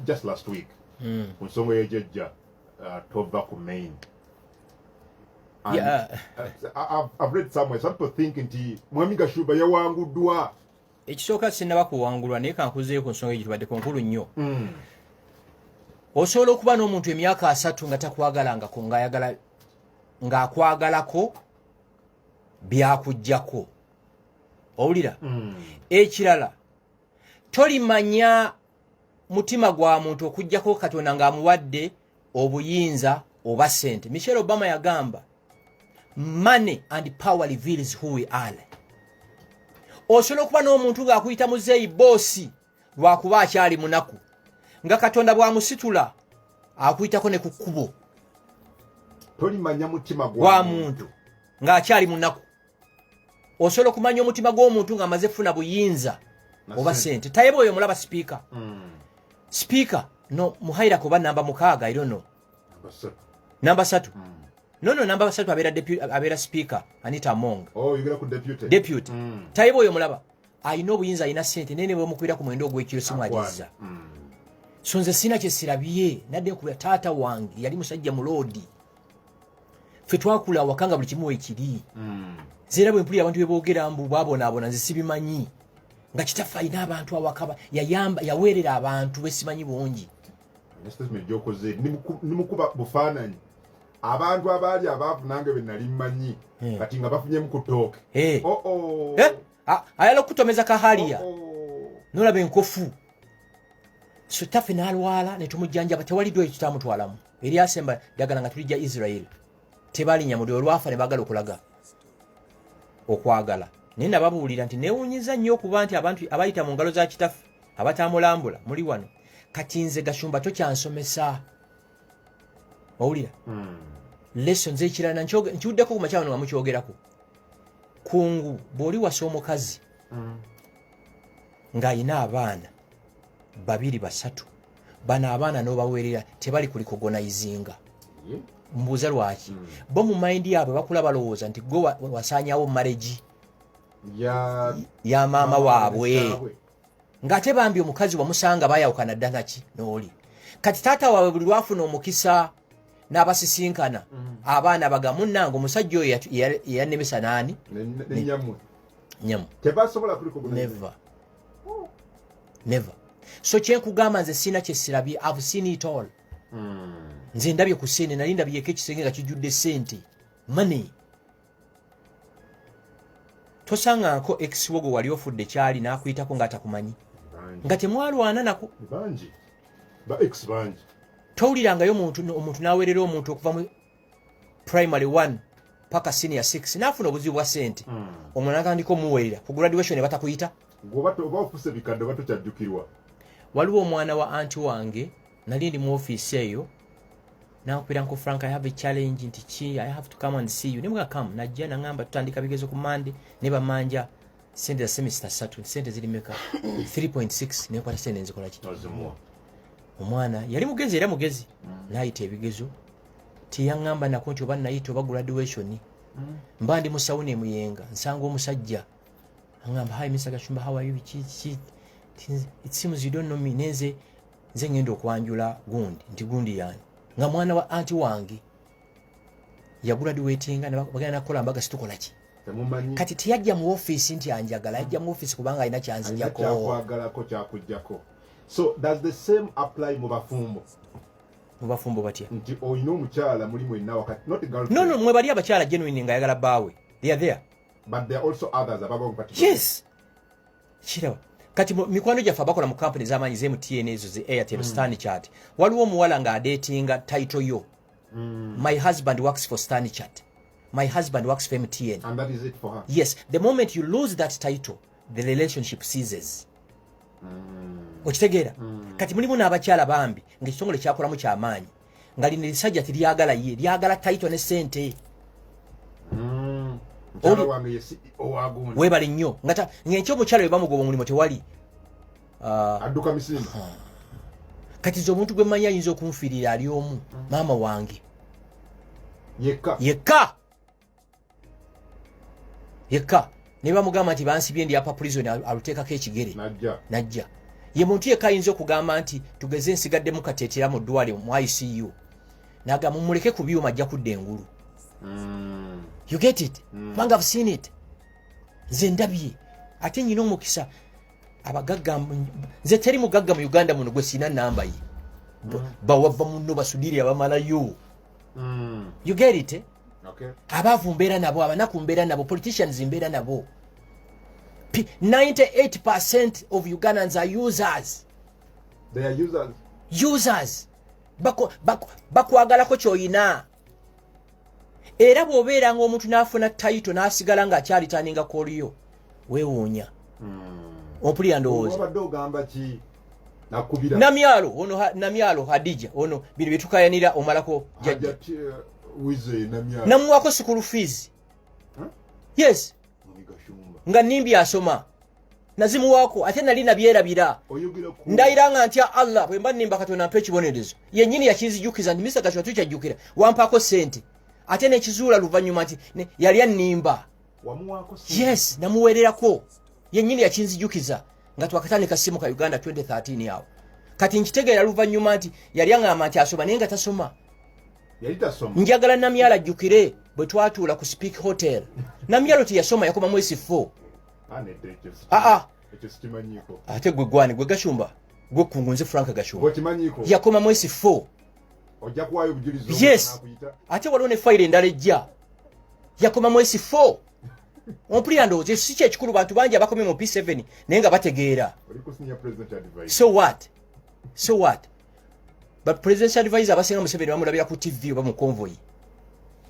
just last week mm. ku nsonga yejejja uh, tova ku main And, yeah. uh, I've, read somewhere some people think nti mwami gashuba yawanguddwa ekisooka sinaba kuwangulwa naye kankuzeeyo ku nsonga egitubaddeko nkulu nnyo mm. osobola okuba n'omuntu emyaka asatu nga takwagalangako ngaayagala ng'akwagalako byakujjako owulira mm. ekirala tolimanya mutima gwa muntu okujjako katonda ng'amuwadde obuyinza oba sente michelle obama yagamba money and power reveals who we are osobola okuba n'omuntu ng'akuyita muzeeyi boosi lwakuba akyali munaku nga katonda bw'amusitula akuyitako ne ku kkubo tolimanya mutima gwa muntu ng'akyali munaku osobola okumanya omutima gw'omuntu ng'amaze funa buyinza oba sente tayeba oyo mulaba sipiika hmm. sipiika no muhaira kuba namba mukaaga iro no namba satu hmm. nono namba satu abeera abeera sipiika anita among oh, deputy hmm. tayeba oyo mulaba alina obuyinza alina sente naye nebwemukubira ku mwendo ogwekiro simwagiriza so nze sina kyesirabye nadde kubira taata wange yali musajja muloodi ffe twakula awaka nga buli kimu wekiri hmm. zera bwe mpulira abantu bebogera mbu babonaabona nze sibimanyi nga kitaffe alina abantu awaka yayamba yaweerera abantu besimanyi bungi nimukuba bufaananyi abantu abaali abaavu nange benali mmanyi eh. kati nga bafunyemu ku tooke eh. oh, oh. Eh? ayala okutomeza kahaliya oh, oh. nolaba enkofu so tafe nalwala netumujjanjaba tewali dwayo tutamutwalamu eryasemba dagala nga tulija israel tebalinya mudi olwafa nebagala okulaga okwagala naye nababuulira nti newunyiza nnyo okuba nti abantu abayita mu ngalo za kitaffe abatamulambula muli wano kati nze gashumba tokyansomesa owulira hmm. lessons ekirala nkiwuddeko ku makya wano nga mukyogerako kungu bw'oli wasa omukazi hmm. ng'alina abaana babiri basatu bano abaana n'obaweerera tebali kulikogonayizinga hmm. mbuuza lwaki bo mu mayindi yaabwe bakula balowooza nti gwe wasaanyawo maregi ya maama waabwe ng'ate bambi omukazi wamusanga bayawukana dda naki nooli kati taata waabwe buli lwafuna omukisa n'abasisinkana mm. abaana bagamu nange omusajja oyo eyanemesa naani nyamu neva neva so kyenkugamba nze sirina kyesirabye av seen it all mm. nze ndabye ku sente nali ndabyeko ekisenge nga kijjudde sente money tosaŋŋaako ekisiwo gwe wali ofudde kyali n'akuyitako ng'atakumanyi nga temwalwana nako towulirangayo omuntu n'aweerera omuntu okuva mu primary one paka senior six n'afuna obuzibu bwa ssente hmm. omwana atandika omuweerera ku graduation ne batakuyita waliwo omwana wa anti wange nali ndi mu ofiisi eyo nankubira nko frank i have a challenge nti ki i have to come and see you nebwa come najja nangamba tutandika bigezo ku mande ne bamanja sente za semester satu sente ziri meka 3.6 nekwata sente nzikola ki omwana yali mugezi era mugezi mm. nayita ebigezo tiyangamba nako nti oba nayita oba graduation mm. mba ndi musawo nemuyenga nsanga omusajja angamba hi mr gashumba how are you ki ki it seems you don't know me nenze nze ngenda okwanjula gundi nti gundi yani nga mwana wa anti wange yagula diwetinga bagenda nakukola mbaga situkola ki kati tiyajja mu ofiisi nti anjagala yajja mu ofiisi kubanga alina kyanzijjakokyakwagalakokyakujjako kyakugyako so does the same apply mu bafumbo mubafumbo batya nti olina omukyala muli mwenna wakati not girl no no mwe bali abakyala genuine nga yagala baawe they are there but there are also others ababa yes kiraba kati mikwano gyaffe abakola mu kampuni zamaanyi ze mtn ezo ze airtel mm. stan chat waliwo omuwala nga adetinga title yo mm. my husband works for stan chat my husband works for mtn And that is it for her. yes the moment you lose that title the relationship seases mm. okitegeera mm. kati mulimu n'abakyala bambi ngaekitongole kyakolamu kyamaanyi nga lino erisajja tiryagala ye lyagala taito ne sente mm, webale nnyo ngata ngenki omukyala we bamugoba omulimu tewali ah. adduka misimba ah. kati ze omuntu gwe manyi ayinza okunfiirira ali omu mm. maama wange yekka yekka yekka naye bamugamba nti bansibye ndi apa prison aluteekako ekigere najja ye muntu yekka ayinza okugamba nti tugeze nsigaddemu kateetera mu ddwale mu icu naga mumuleke ku byuma ajja kudda engulu mm. you get it mm. kubanga mm. seen it nze ndabye ate nyina omukisa abagagga nze teri mugagga mu uganda muno gwe siina namba ye mm. bawava munno basudirira bamalayo mm. you get it eh? okay. abaavu mbeera nabo abanaku mbeera nabo politicians mbeera nabo 98 percent of ugandans are users They are users. users bakwagalako kyoyina era bw'obeera nga omuntu n'afuna tayito n'asigala ng'akyalitaninga koliyo wewuunya hmm. ompulira ndowooza namyalo ono namyalo hadija ono bino byetukayanira omalako jajja eh, namuwako sukulu fees yes nga nimbi asoma nazimuwaako ate nali nabyerabira ndayira nga ntya allah bwe mba nimba katonda mpa ekibonerezo yennyini yakinzijukiza nti misa gashwa tukyajjukira wampaako ssente ate nekizuula luvannyuma nti yali annimba yes namuweererako yennyini yakinzijukiza nga twakatandika simu ka uganda 2013 awo kati nkitegeera luvannyuma nti yali aŋamba nti asoma naye nga tasoma njagala namyalo ajjukire bwe twatuula ku speak hotel namyalo teyasoma yakoma mwesi fo aa ate gwe gwani gwe gashumba gwe kungu nze frank gashumba yakoma mwesi fo ojja kuwaayo obujulizi yes ate waliwo ne fayiro endala ejja yakoma mu esi four ompulira ndowooza ekyo si kyekikulu bantu bangi abakomye mu p7 naye nga bategeera so what so what but president's advisor abasinga museveni bamulabira ku tv oba mu convoy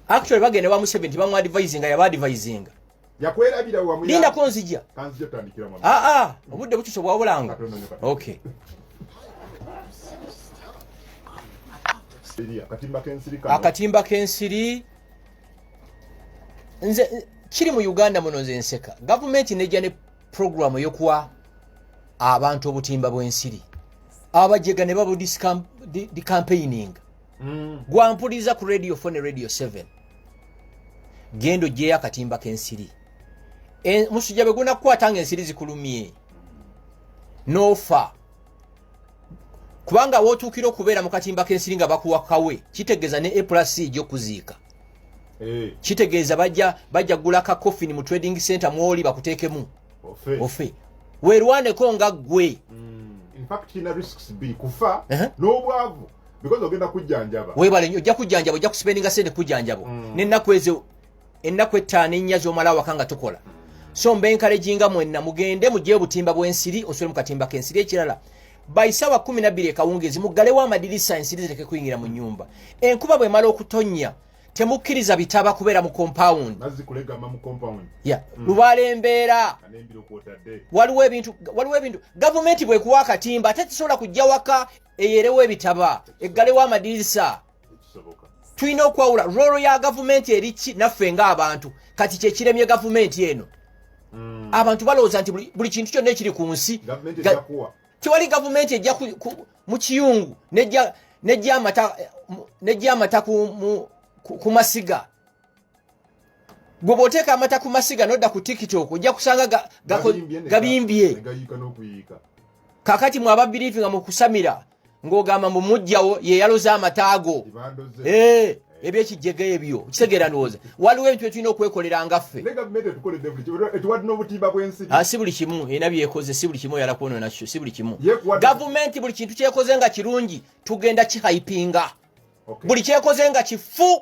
actually bagenda wa museveni tibamwadvisinga yaba advisinga yakwerabira wamu linda ko nzija kanzija tandikira mama a ah, a ah, obudde butuso bwa bulanga okay akatimba kensiri kano akatimba kensiri nze kiri mu Uganda muno nze nseka government neja ne program yo kuwa abantu obutimba bwensiri abajega ne babu discam di, di campaigning mm. gwampuliza ku radio fo ne radio 7 genda ojjeyo akatimba kensiri e, musujja bwe gunakukwata nga ensiri zikulumye nofa kubanga wotuukira okubeera mu katimba kensiri nga bakuwakawe kitegeeza ne eplas ejja okuziika eh. kitegeeza bajja bajja gula ka coffin mu trading center mwoli bakuteekemu ofe werwaneko nga ggwe mm. in fact kina risks bbiri kufa uh-huh. n'obwavu because ogenda kujjanjaba webale nyo ojja kujjanjaba ojja kuspendinga sente kujjanjabo mm. nennaku ezo ennaku ettaano ennya zomala awaka nga tukola mm. so mba enkalejinga mwenna mugende mugye obutimba bw'ensiri osole mu katimba k'ensiri ekirala baisawa kumi nabbiri ekawungeezi muggalewo amadirisa ensiri zireke kuyingira mu nnyumba enkuba bwemala okutonnya temukkiriza bitaba kubeera mu compound ya mm. lubaala embeera waliwo ebintu waliwo ebintu gavumenti bwekuwa akatimba ate tisobola kujja waka eyerewo ebitaba eggalewo amadirisa tulina okwawula roolo ya gavumenti eriki naffe ng'abantu kati kyekiremye gavumenti eno hmm. abantu balowooza nti buli kintu kyonna ekiri ku nsi tewali gavumenti ejja mu kiyungu nejja amata ku masiga gwe bw'oteeka amata ku masiga n'odda ku tiktok ojja kusanga gabimbye kakati mwaba biriifi nga mukusamira ng'ogamba mbu mujjawo yeyaloza amataago ebyo ekijjega ebyo kitegeera ndowooza waliwo ebintu byetulina okwekolera ngaffe ah, si buli kimu erina byekoze si buli kimu oyala kwonona nakyo si buli kimu gavumenti buli kintu kyekoze nga kirungi tugenda kihaipinga buli kyekoze nga kifu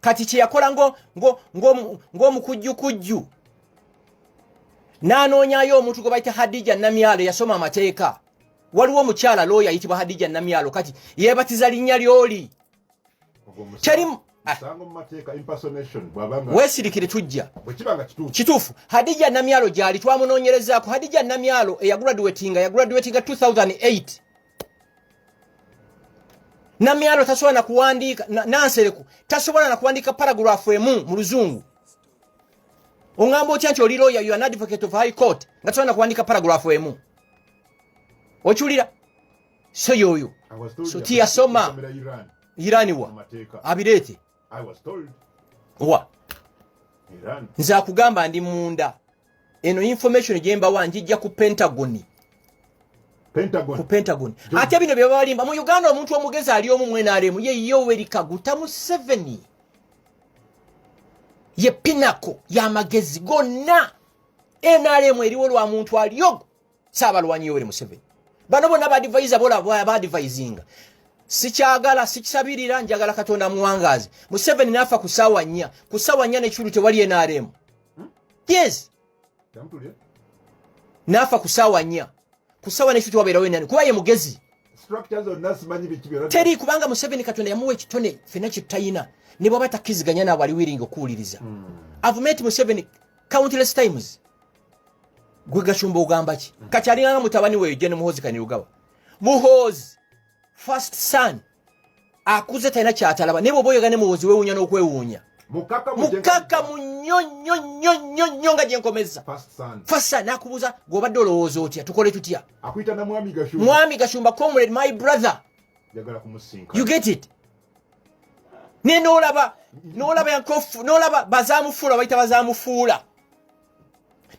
kati kyeyakola ng'omukujjukujju n'anoonyayo omuntu gwe bayita hadija namyalo yasoma amateeka waliwo omukyala looya ayitibwa hadija namyalo kati yeebatiza linnya lyoli Ah. wesirikire tujja kituufu hadija namyalo gyali twamunoonyerezaako hadija namyalo eyagraduatinga yagraduatinga 2008 namyalo tasobola na kuwandiika nansereko tasobola na kuwandiika paragraph emu mu luzungu ongamba otya nti oli lawyer you an advocate of high court nga tasobola na kuwandiika paragraph emu okiwulira so yoyo so tiyasoma irani wa abireete wa nze akugamba ndi munda eno information gyembawa njijja ku pentagoni ku pentagon ate bino byebabalimba mu uganda omuntu omugezi ali omu mwenaremu ye yoweri kaguta museveni ye pinako yamagezi gonna nrm eriwo lwa muntu aliogo saabalwanyi yoweri museveni bano bona badivaiza badivizinga sikyagala sikisabirira njagala katonda muwangazi museveni nafa ku sawa nya ku sawa nya nekikulu tewali nrm hmm? yes nafa ku sawa nya ku sawa nekikulu tewabeerawo nrm kuba ye mugezi teri kubanga museveni katonda yamuwa ekitone fena kitayina ne bwaba takkiziganya naabo aliwiringa okuwuliriza hmm. avume nti museveni countless times gwe gashumba ogamba ki mm. kati alinganga mutabani weyo jene muhozi kanirugawa muhozi first son akuze talina kyatalaba naye bwoba oyogane muhozi wewunya n'okwewuunya mukaka munyonyonyonyonyo nga gyenkomeza fasa nakubuza gwobadde olowooza otya tukole tutya mwami gashumba comrade my brother you get it naye nolaba nolaba yankofu nolaba bazamufuula bayita bazamufuula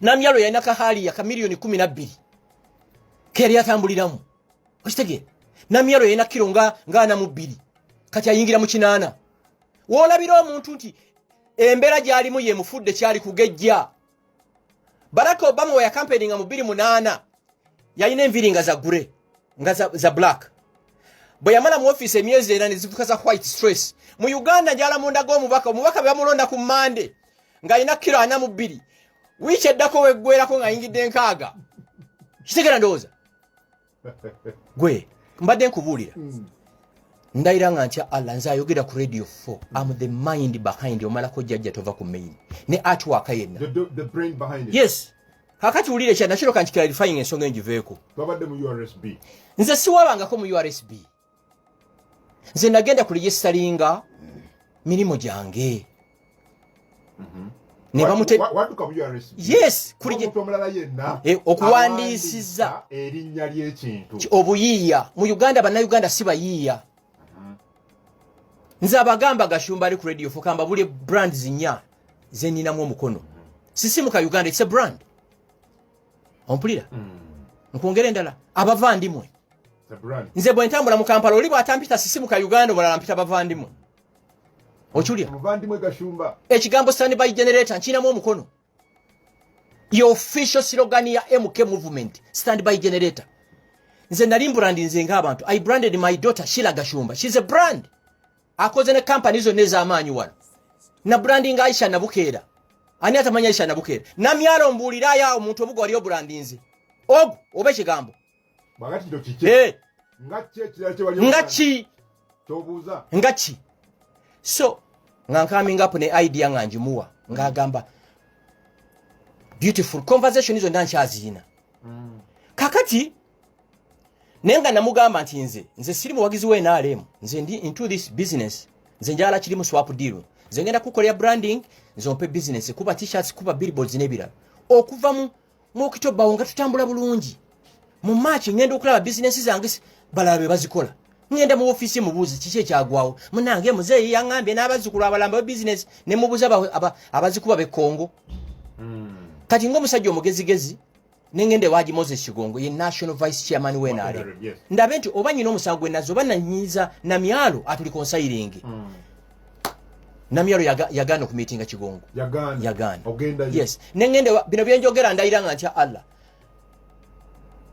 namyalo yalina kahaliya ka miliyoni kumi nabbiri keyali atambuliramu okitegeera namyalo yalina kiro nga ana mu bbiri kati ayingira mu kinaana woolabira omuntu nti embeera gyalimu yemufudde kyali kugejja baraka obama weyakampeininga mu bbiri munaana yalina enviri nga zagure nga za, za black bwe yamala mu ofiisi emyezi era ne zifuka za white stress mu uganda njala mundaga omubaka omubaka bebamulonda ku mande ng'alina kiro ana mu bbiri wiiki eddako weggwerako ng'ayingidde enkaaga kitegera ndowooza gwe mbadde nkubuulira hmm. ndayira nga ntya allah nze ayogera ku radio 4 am the mind behind omalako jjajja tova ku main ne atwaka yenna yes kakati wulire kya nakiro kanti clarifying ensonga enjiveeko nze siwabangako mu ursb nze nagenda ku ligisitalinga mirimu gyange mhm. eh, okuwandiisiza erinnya ly'ekintu obuyiiya mu uganda bannayuganda si bayiiya mhm. nze abagamba gashumba ali ku radio fukamba buli brand zinya zeninamu omukono mhm. sisimuka uganda it's a brand ompulira mm. nkwongera endala abava ndimwe nze bwe ntambula mu kampala oli bw'atampita sisimuka uganda obulala mpita bavandimwe okiwulira ekigambo sani by generator nkirinamu omukono your official slogan ya mk movement stand by generator nze nali mbrandi nze ngaabantu i branded my daughter shila gashumba shes a brand akoze ne kampani zonna ez'amaanyi wano na brandi nga aisha nabukeera ani atamanya aisha nabukeera namyalo mbuuliraayo awo omuntu obuga waliyo brandi nze ogu oba ekigambo eh. nga ki nga ki so nga nkamingapu ne idea nga njimuwa ng'agamba beautiful conversation zonna nkyaziyina mm. kakati naye nga namugamba nti nze nze siri muwagizi we nrm nze ndi into this business nze njala kirimu swap deal nze ngenda kukolera branding nze ompe business kuba t-shirts kuba billboards n'ebirala okuva mu mukito bawo nga tutambula bulungi mu march ngenda okulaba business zange balala be bazikola ngenda mu office mubuuze kiki ekyagwawo munange muzeeyi yangambye n'abazzukulu abalamba be business ne mubuuza abazikuba be kongo hmm. kati ng'omusajja omugezigezi nengende waji moses kigongo ye national vice chairman wenare oh, ndabe nti oba nyina omusango gwenazo oba nanyiza na myalo atuli konsayiringi mm. namyalo yagaana okumitinga kigongo yagaanayes nengende bino byenjogera ndayira nga ntya allah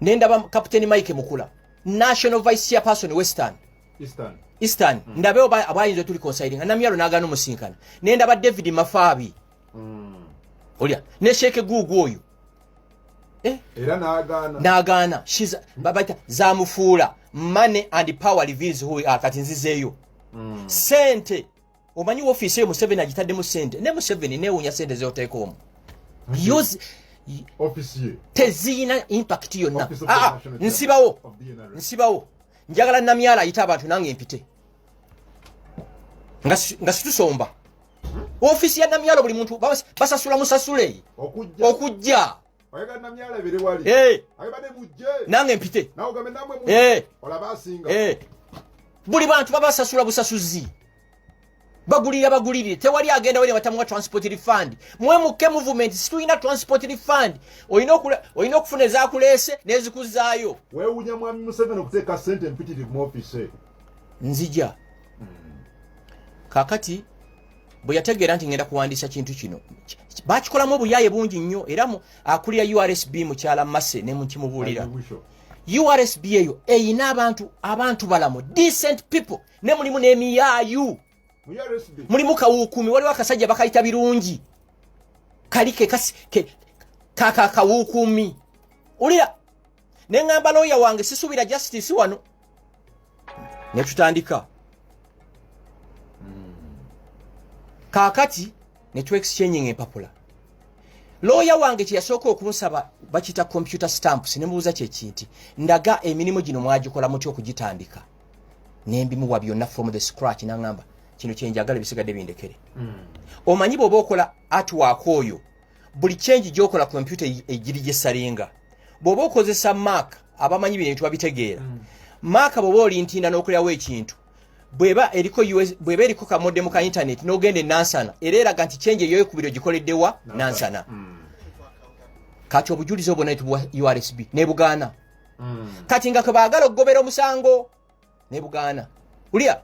nendaba captain mike mukula national vice chairperson western eastern hmm. ndabewo abayinza otuli consilinga namyalo nagaana omusinkana nendaba david mafaabi hmm. olya ne sheeke guugu oyo eh? era nagaana nagaana babaita zamufuula money and power reveals who we are kati nzizeeyo mm. sente omanyi ofiisi eyo museveni agitaddemu sente ne museveni newunya sente zeoteeka omu teziyina impact yonna ah, ah, nsibawo nsibawo njagala namyala ayite abantu nange mpite nga situsomba ofisi ya namyalo buli muntu basasula musasule okujja eh. nange mpite eh. eh. buli bantu babasasula busasuzi bagulira bagulirire tewali agenda wene batamuwa transport refund mwe mukke movement situlina transport refund olina okufuna ezakuleese nezikuzaayo wewunya mwami museveni okuteeka sente mpitirivu mu office nzija kakati bwe yategeera nti ngenda kuwandiisa kintu kino bakikolamu obuyaaye bungi nnyo era akulira ursb mukyala mase ne mukimubuulira ursb eyo eyina abantu abantu balamu decent people ne mulimu n'emiyaayu mulimu kawuukumi waliwo akasajja bakayita birungi kali kekakawuukumi ulira ne ŋŋamba looya wange sisuubira justice wano ne tutandika kaakati ne tu exchanging empapula looya wange kye yasooka okunsaba bakiyita computer stamps ne mubuuza kyekinti ndaga emirimu gino mwagikola muty okugitandika ne mbimuwa byonna from the scratch naŋŋamba kino kyenjagala ebisigadde bindekere hmm. omanyi bweoba okola atwaka oyo buli change gyokola kompyuta egiri gyesalinga bw'oba okozesa maaka abamanyi bino bintu babitegeera hmm. maaka bw'oba olintinda n'okulirawo ekintu bweba eriko bweba eriko kamodemu ka intaneti n'ogenda enansana era eraga nti change eyoyo kubiri ogikoleddewa nansana hmm. kati obujulizi obwo naye tubuwa ursb nebugaana hmm. kati nga kwe baagala okugobera omusango nebugaana ulya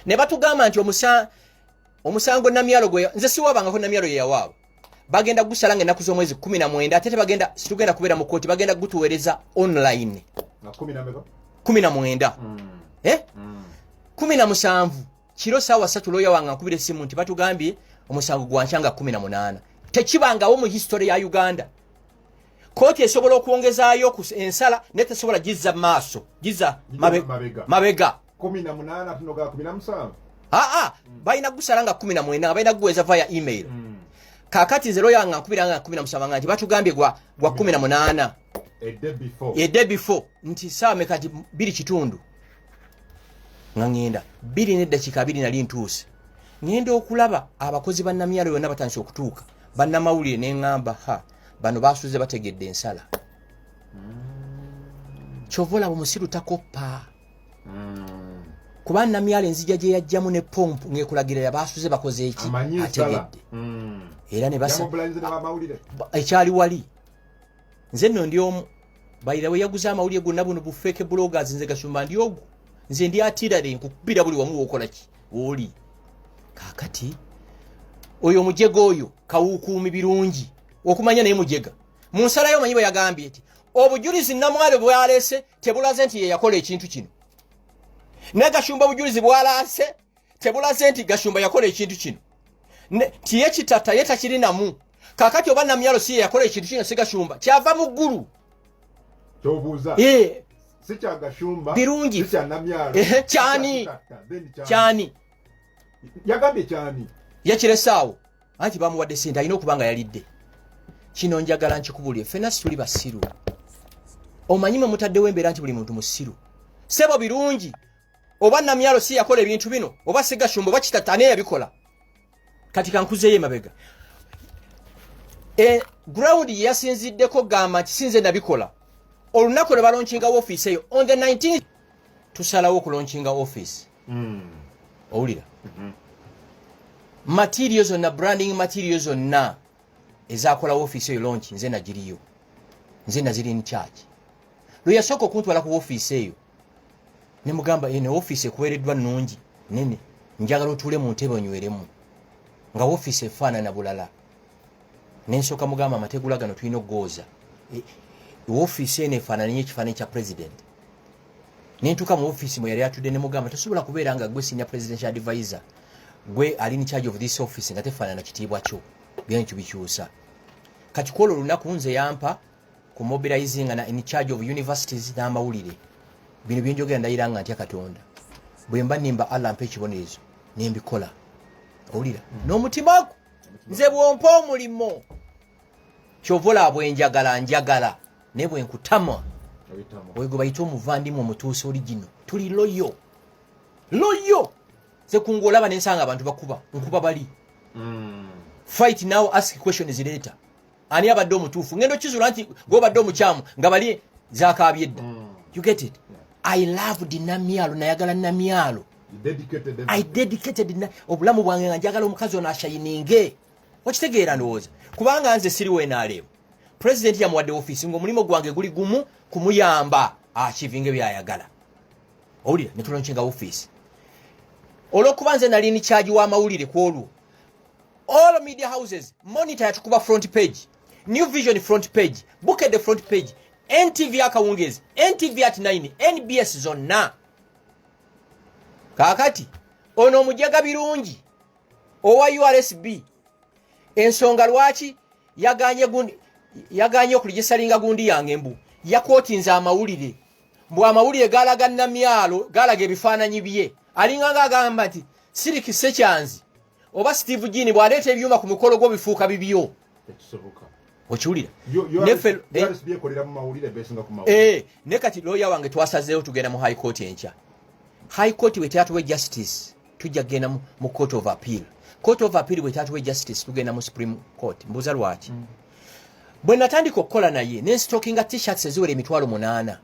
ne batugamba nti omusango omusango namyalo gwe nze siwabangako namyalo yeyawaabo bagenda gusala nga enaku z'omwezi kumi na mwenda ate tebagenda situgenda kubeera mu kooti bagenda gutuweereza online kumi na mwenda mm. eh? mm. kumi na musanvu kiro saawa satu looya wange nkubira essimu nti batugambye omusango gwankya nga kumi na munaana tekibangawo mu history ya uganda kooti esobola okwongezaayo ensala naye tesobola gizza maaso gizza mabega kumi na munana tunoga kumi na musanvu aa mm. balina kugusala nga kumi na mwenda nga balina kuguweza via email mm. kakati nze loya nga nkubira nga kumi na musanvu nga nti batugambye gwa, gwa kumi na munana ede before nti saawa meka nti biri kitundu nga ŋenda biri neddakiika biri nali ntuuse ŋenda okulaba abakozi bannamyalo yonna batandise okutuuka bannamawulire ne ŋamba ha bano basuze bategedde ensala mm. kyova olaba omusiru takoppa mm. kuba namyala enzija gye yajjamu ne pompu ng'ekulagirira baasuze bakoze eki ategedde mm. era ne basa ekyali wali nze nno ndi omu bayira we yaguze amawulire gonna buno bufeeke bloggers nze gasumba ndi ogu nze ndi atirare nkukubira buli wamu wokola ki oli kakati oyo omujega oyo kawukuumi birungi okumanya naye mujega mu nsala yo omanyi bwe yagambye nti obujulizi namwale bwaleese tebulaze nti yeyakola ekintu kino ne gashumba obujulizi bwalaase tebulaze nti gashumba yakola ekintu kino nti ye kitata ye takirinamu kakati oba namyalo si yeyakola ekintu kino si gashumba kyava mu ggulu kyobuuza eh. si kya gashumba birungi si kya namyalo kyani kyani yagambye kyani yakiresaawo anti bamuwadde sente alina okuba nga yalidde kino njagala nkikubulire fena situli basiru omanyi mwe mutaddewo embeera nti buli muntu musiru sebo birungi oba namyalo si yakola ebintu bino oba sigashumba oba kitatane yabikola kati kankuzeyo emabega e, ground yeyasinziddeko gamba nti sinze nabikola olunaku lwe balonkinga wofiisi eyo on the 19 tusalawo okulonkinga office mm. owulira mm -hmm. material zonna branding material zonna ezakolawo office eyo lonki nze nagiriyo nze naziri in charge lwe yasooka okuntwala ku office eyo ne mugamba eno eh, office ekuweereddwa nnungi nene njagala otuule mu ntebe onyweremu nga office efaanana bulala nensooka mugamba amategula gano tulina okugooza e, ofiisi eno efaanananyo ekifaananyi kya president nentuuka mu ofiisi mwe yali atudde ne mugamba tosobola kubeera nga gwe senior presidential advisor gwe ali in charge of this office nga tefaanana kitiibwa kyo byenkyo bikyusa kakikola olunaku nze yampa ku mobilizing na in charge of universities n'amawulire bino byenjogera ndayira nga ntya katonda bwe mba nimba allah mpa ekibonerezo nembikola owulira mm. n'omutima gwo nze bwompa omulimu kyova olaba bwenjagala njagala naye bwenkutama oyo gwe bayita omuvandimwe omutuusa oli gino tuli loyo loyo nze kunga olaba nensanga abantu bakuba nkuba bali mm. fight now ask questions later ani abadde omutuufu ngendo kizula nti gobadde omukyamu nga bali zakaabye edda mm. you get it i loved namyalo nayagala namyalo i dedicated na obulamu bwange nga njagala omukazi ono ashayininge okitegeera ndowooza kubanga nze siri wenaleemu pulezidenti yamuwadde ofiisi ngaomulimu gwange guli gumu kumuyamba akivinge byayagala owulira netuloncenga ofiisi olwokuba nze nali ni kyagi w'amawulire ku olwo all media houses monitor yatukuba front page new vision front page bukedde front page ntv akawungeezi ntv at 9 nbs zonna kaakati ono omujega birungi owa ursb ensonga lwaki yaganye gundi yaganye okuligisalinga gundi yange mbu yakwotinza amawulire mbu amawulire galaga namyalo galaga ebifaananyi bye alinganga agamba nti siriki sekyanzi oba steve jini bwaleeta ebyuma ku mikolo gwo bifuuka bibyo okiwulira eh, ne kati looya wange twasazeewo tugenda mu high court enkya high court bwetyatuwe justice tujja kugenda mu court of appeal court of appeal bwetyatuwe justice tugenda mu supreme court mbuuza lwaki mm. bwe natandika okukola naye nenstokinga tshirts eziwera emitwalo munaana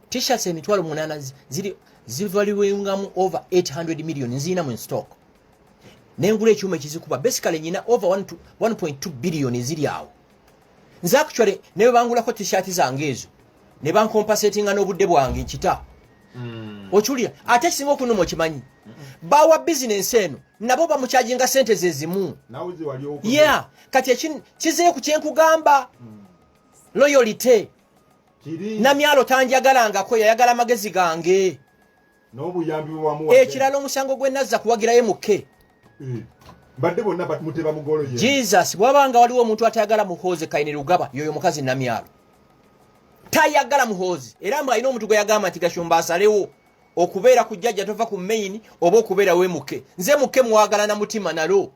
tshirts emitwalo munaana ziri zivaliwengamu over 800 million nziina mu stock nengula ekyuma ekizikuba basically nyina over 1.2 billion eziri awo nze actually naye bangulako t-shirt zange ezo ne bankompasetinga n'obudde bwange nkita mm. okiwulira ate ekisinga okunuma okimanyi mm -mm. bawa bizinensi eno nabo bamukyajinga sente zezimu ye yeah. kati kizeyo ku kyenkugamba mm. loyalite namyalo tanjagalangako yayagala amagezi gange n'obuyambi bwewamuwa ekirala omusango gwe nazza kuwagirayo mukke eh, mbadde bonna muteba mugolo ye jesus bwaba nga waliwo omuntu atayagala muhoozi kaine lugaba yoyo mukazi namyalo tayagala muhoozi era mbu alina omuntu gwe yagamba nti gashumba asalewo okubeera ku jjajja tova ku main oba okubeera we muke nze muke mwagalana mutima nalo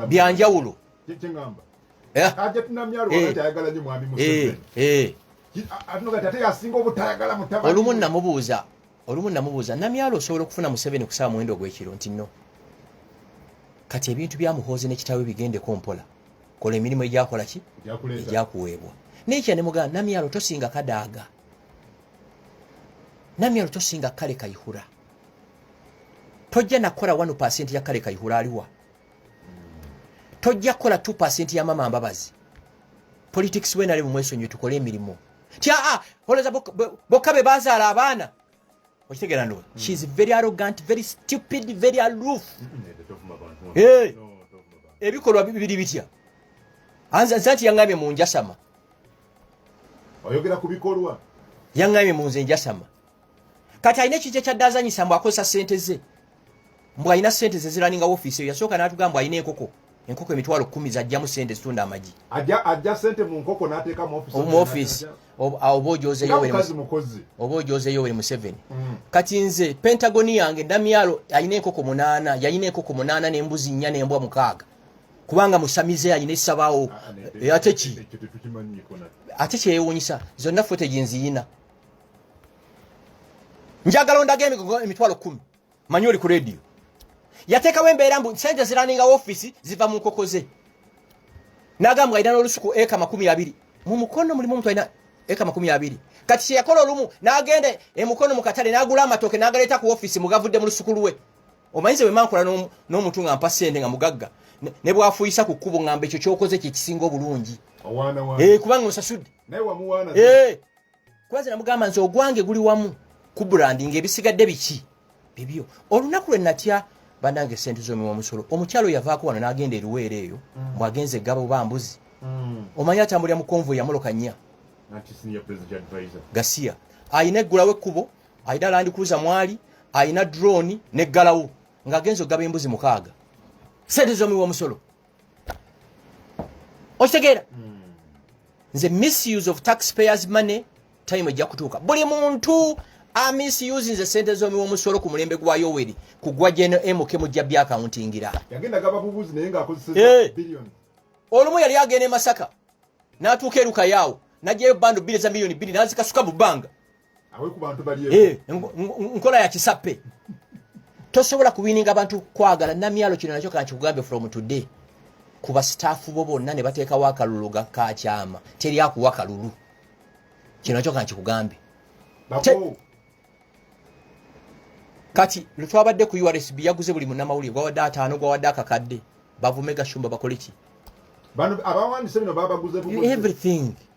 byanjawulo kyekyengamba eh? ate tunamyalo eh. atayagala nyo mwami museveni eh, olumu namubuuza olumu namubuuza namyalo osobola okufuna museveni kusaba muwendo ogwekiro nti no kati ebintu byamuhoozi nekitawe bigendeko mpola kola emirimu egyakola ki egyakuweebwa nekya nemugamba namyalo tosinga kadaaga namyalo tosinga kale kaihura tojja nakola wanu pasenti ya kale kaihura aliwa tojja kukola 2 ya mama mbabazi politics wena lebu mwesonyiwe tukole emirimu tya ah, olowooza bokka be bazaala abaana okitegera ndo mm. she is very arrogant very stupid very aloof eh, ebikolwa bibiri bitya anza nti yaŋŋambye mu njasama oyogera ku bikolwa yaŋŋambye mu nze njasama kati alina ekija kyadde azanyisa mbu akozesa sente ze mbu alina sente ze ziraninga wofiisi eyo yasooka n'atugamba mbu alina enkoko enkoko emitwalo kumi zajjamu sente zitunda amagi ajja sente mu nkoko n'ateeka mu ofiisi oba ojozeyo weri museveni mm. kati nze pentagoni yange ndamyalo alina enkoko munaana yalina enkoko munaana nembuzi nnya nembwa mukaaga kubanga musamize alina esabawo ah, eh, ate ki ate kyeyewunyisa zonna fote gyenziyina njagala ondaga emigogo emitwalo kumi manyi oli ku rediyo yateekawo embeera mbu sente ziraninga ofiisi ziva mu nkoko ze nagamba alina n'olusuku eka makumi abiri mu mukono mulimu omuntu alina eka makumi abiri kati kyeyakola olumu n'agenda emukono mu katale n'agula amatooke n'agaleeta ku ofiisi mugavudde mu lusuku lwe omanyize bwe mankola n'omuntu nga mpa sente nga mugagga ne bwafuyisa ku kkubo ngamba ekyo kyokoze kyekisinga obulungi eh, kubanga osasudde eh. kubaze namugamba nti ogwange guli wamu ku brandi nga ebisigadde biki bibyo olunaku lwe natya banange sente zomi wamusolo omukyalo yavaako wano nagenda eruweera eyo mm. bwagenze gabo bambuzi mm. omanyi atambulira mu konvoy yamuloka nnya gasiya ayina eggulawo ekkubo ayina landikuuza mwali ayina drone neggalawo ng'agenza okugaba embuzi mukaaga sente zomi wamusolo okitegeera hmm. nze misuse of taxpayers money time ejja kutuuka buli muntu amisuse nze sente zomiwa omusolo ku mulembe gwa yoweri kugwa jnmk mujja byakawuntingira olumu yali agenda emasaka natuuka erukayaawo najayo bando biri za miliyoni biri nazikasuka mu bbanga awe ku bantu bali eh nkola ya kisape tosobola kuwininga abantu kwagala namyalo kino nakyo kakikugambe from today ku basitaafu bo bonna ne bateekawo akalulu gakakyama teri akuwa kalulu kino nakyo kankikugambe kati lwetwabadde ku ursb yaguze buli munamawulire gwawadde ataano gwawadde akakadde bavume gashumba bakoleki everything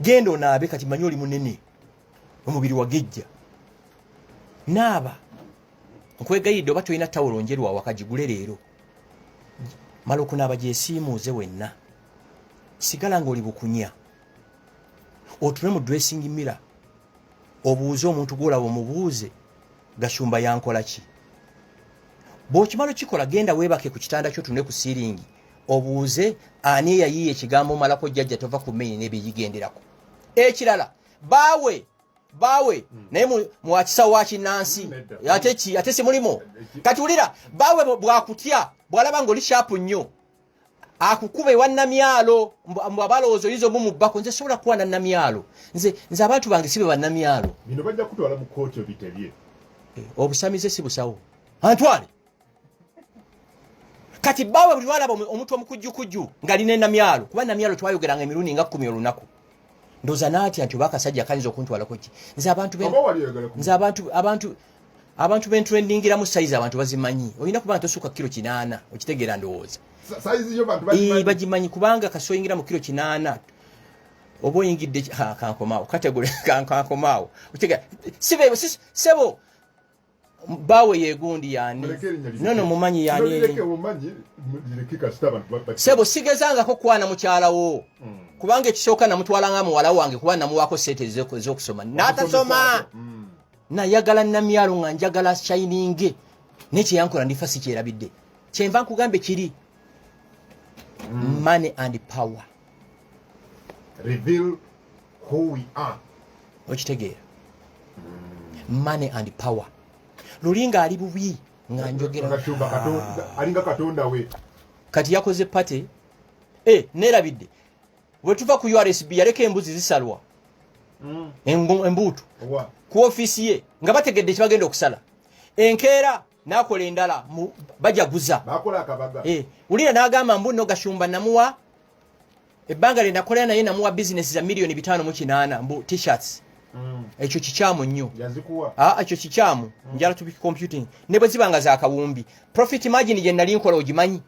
genda onaabe kati manyi oli munene omubiri wagejja naaba nkwegayidde oba tolina tawulo njerwa wakagigule leero mala okunaaba gyesiimuuze wenna sigala ngaoli bukunya otume mu dressing mira obuuze omuntu gwolaba omubuuze gashumba yankola ki bwokimala okikola genda weebake ku kitanda kyo tune ku siiringi obuuze ani eyayiiya ekigambo omalako jjajja tova ku mmeyi nebigigenderako ekirala baawe baawe hmm. naye mwakisa wa kinnansi hmm, ate ki ate si mulimu eh, kati wulira baawe bwakutya bwalaba ngaoli shapu nnyo akukuba ewa namyalo mbu abalowooza oyinza omumubbako nze sobola kuwa nanamyalo nze nze abantu bange sibe banamyalo bino bajja kutwala mu kooti obitebye eh, obusamize si busawo antwale kati baawe buli lwalaba omuntu omukujjukujju ngali ne namyalo kuba namyalo twayogeranga emirundi nga kkumi olunaku ndoza natya nti oba akasajja kayinza okuntwalako ki nze abantu nze abantu abantu abantu bentrendingiramu sayizi abantu bazimanyi olina kuba nga tosuuka kiro kinaana okitegeera ndowooza bagimanyi kubanga kasoyingira mu kiro kinaana oba oyingidde kankomaawo kategole kankomaawo sebo bawe yegundi yani nono mumanyi yani sebo sigezangako kwana mukyala wo mm. kubanga ekisooka namutwala nga muwala wange kuba namuwako sente ezokusoma natasoma mm. nayagala namyalo nga njagala shininge nekyeyankola ndifa sikyerabidde kyenva nkugambe kiri mm. money and power Reveal who we are okitegeera mm. money and power luli nga ali bubi nga njogera ah. alinga katonda we kati yakoze party eh nerabidde wetuva ku URSB yaleka embuzi zisalwa mm. embuutu ku office ye nga bategedde kibagenda okusala enkeera nakola endala mu bajaguza bakola akabaga eh ulira nagamba mbu no gashumba namuwa ebbanga lye nakola naye namuwa business za milioni bitano mu kinana mbu t-shirts mm. ekyo kikyamu nnyo yazikuwa a ah, ekyo kikyamu mm. njala tubi computing ne bwe zibanga za kawumbi profit margin je nali nkola ogimanyi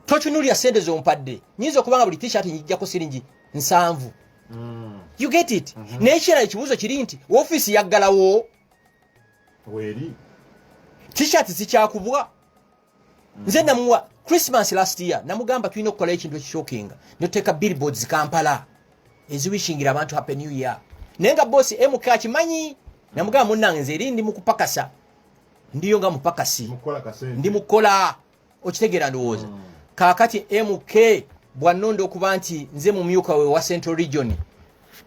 tochunuli asende zo mpadde nyizo kubanga buli t-shirt njija ko siringi nsanvu mm. you get it mm -hmm. ne ekira ekibuzo kiri nti office yaggalawo weri t-shirt zikyakubwa nze namuwa christmas last year namugamba tulina okukola ekintu ekishokinga noteka billboards kampala eziwishingira abantu happy new year naye nga bosi mk akimanyi namugamba munange nze eri ndi mukupakasa ndiyo nga mupakasi ndi mukola okitegeera ndowooza mm. kaakati mk bwannonda okuba nti nze mumyuka we wa central region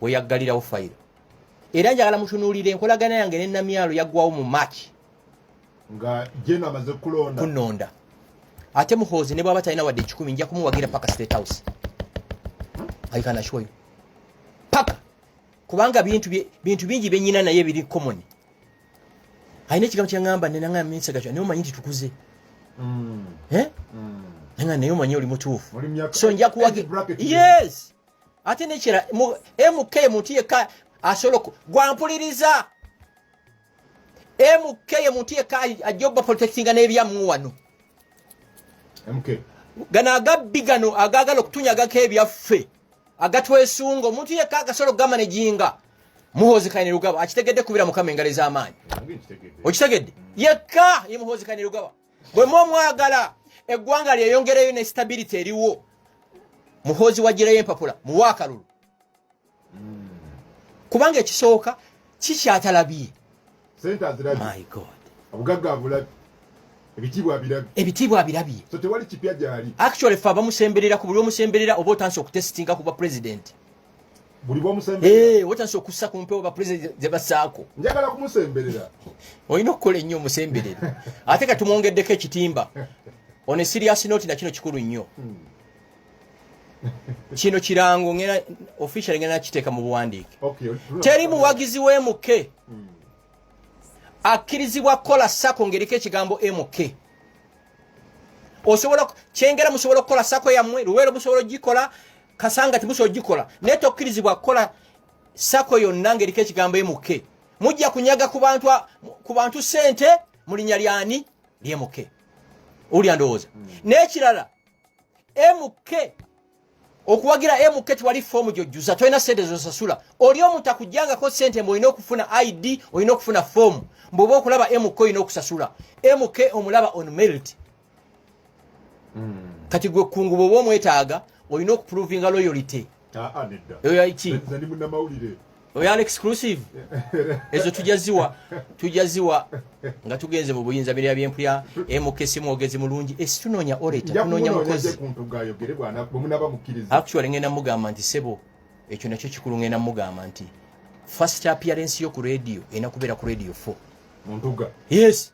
weyaggalirawo fayiro era njagala mutunuulira enkolagana yange ne namyalo yaggwawo mu march nga jeno amaze kulonda kunonda ate muhoozi ne bwaba talina wadde ekikumi nja kumuwagira paka state house aikana kyoyo paka kubanga bintu bingi byenyina naye biri common alina ekigambo kyeŋamba nenanga minsa gakywa naye omanyi nti tukuze mm. eh? mm. nanga naye omanyi oli mutuufu so nja kuwagi yes ate nekira mk muntu yekka asobola gwampuliriza mk ye muntu yekka ajja oba protectinga n'ebyamu wano gano agabbi gano agaagala okutunyagako ebyaffe agatwesunga omuntu yekka agasobola okugamanaginga muhoozi kaine lugaba akitegedde kubira mukama engalo ez'amaanyi okitegedde yekka ye muhoozi kaine lugaba bwe mu omwagala eggwanga lyeyongereyo ne stability eriwo muhoozi wagireyo empapula muwa akalulu kubanga ekisooka kikyatalabye sente azirabye my god obugagga abulabye ebitiibwa abirabye ebitiibwa abirabye so tewali kipya gyali actually fe abamusemberera ku buli omusemberera oba otandise okutesitinga ku bapulezidenti buli bwomusemberera eh, otandise okussa ku mpewo bapulezidenti ze basaako njagala kumusemberera olina okukola ennyo omusemberere ate ka tumwongeddeko ekitimba on a serious note na kino kikulu nnyo hmm. kino kirango ngena official ngena kiteeka mu buwandiike teri muwagizi wa mk hmm. akkirizibwa kukola sako ngeriko ekigambo mk osobola kyengera musobola okukola sako yammwe luweero musobola ogikola kasanga timusobola ogikola naye tokkirizibwa kukola sako yonna ngeriko ekigambo mk mujja kunyaga ku bantu sente mu linya lyani lyemuke owulya ndowooza hmm. n'ekirala mk okuwagira mk tewali foomu gyojjuza tolina sente zosasula oli omuntu akujjangako sente mbu olina okufuna id olina okufuna foomu mbuoba okulaba mk olina okusasula mk omulaba on melt hmm. kati gwe kunguba oba omwetaaga olina okuprovinga loyalty ah, ah, eyo yaiki oyo ali exclusive ezo tujja ziwa tujja ziwa nga tugenze mu buyinza mirya byempulya emukesi mwogezi mulungi esi eh, tunoonya oreta tunoonya mukozi actually ngenda mugamba nti sebo ekyo nakyo kikulu ngenda mugamba nti first appearance yo ku radio ena kubeera ku radio 4 muntuga yes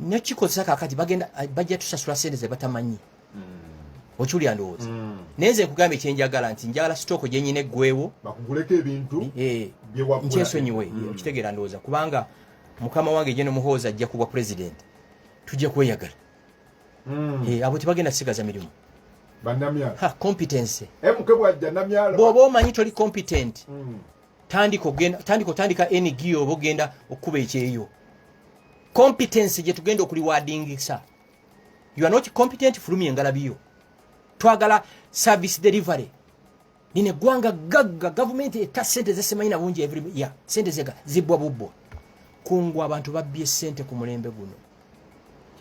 nyo kikozesa kakati bagenda bajja tusasula sente ze batamanyi mm. okiwulira ndowooza mm. naye nze nkugambye kyenjagala nti njagala sitooko gyenyina eggwewo bakuguleko ebintu eh, nkyesonyiwe mm. okitegeera ndowooza kubanga mukama wange gye nomuhoozi ajja kubwa pulezidenti tujja kweyagala mm. eh, abo tebagenda kusigaza mirimu competence eh, bwoba omanyi toli competent tandika otandika eng oba ogenda okukuba ekyeyo competence gye tugenda okuliwadingisa you are not competent fulumya engalabi yo twagala service delivery lino eggwanga gagga gavumenti etta sente zesimanyi na bungi every year sente zega zibbwa bubbwa kungu abantu babbye sente ku mulembe guno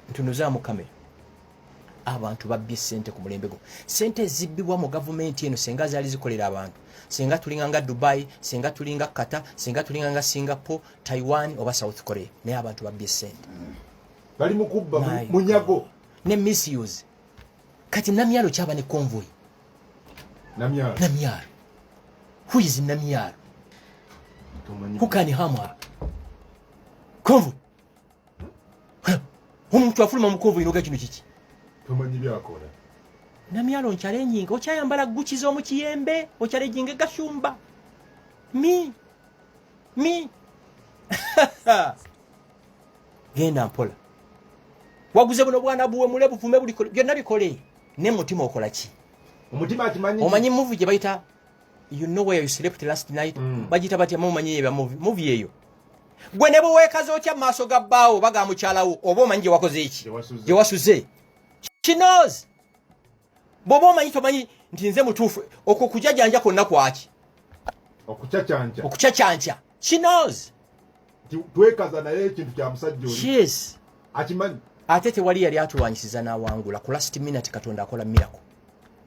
ntunuzamu kamera abantu babbye sente ku mulembe gwo sente ezibbibwa mu gavumenti eno senga zaali zikolera abantu senga tulinga nga dubai senga tulinga kata senga tulinga nga singapore taiwan oba south korea naye abantu babbye sente bali mukubba munyago ne misuse kati namyalo kyaba ne convoy namyalo namyalo who is namyalo who can harm her convoy omuntu afuluma mukovu inoga kino kiki tomanyi byakola namyalo nkyale nyinga okyayambala guki z'omu kiyembe okyale jinga gashumba mi mi genda mpola waguze buno bwana buwe mule buvume buli byonna bikole ne mutima okola ki omutima akimanyi omanyi muvi gye bayita you know where you slept last night mm. bagita batya mumanyi yeba muvi eyo gwe ne bwewekaza otya mu maaso ga bbaawo oba ga mukyalawo oba omanyi gye wakoze eki gye wasuze kinoz bwoba omanyi tomanyi nti nze mutuufu okwo kujajanja kwonna kwaki okucacanca kinoz twekaza naye ekintu kya musajja yes akimanyi ate tewali yali atulwanyisiza n'awangula ku last minute katonda akola mirako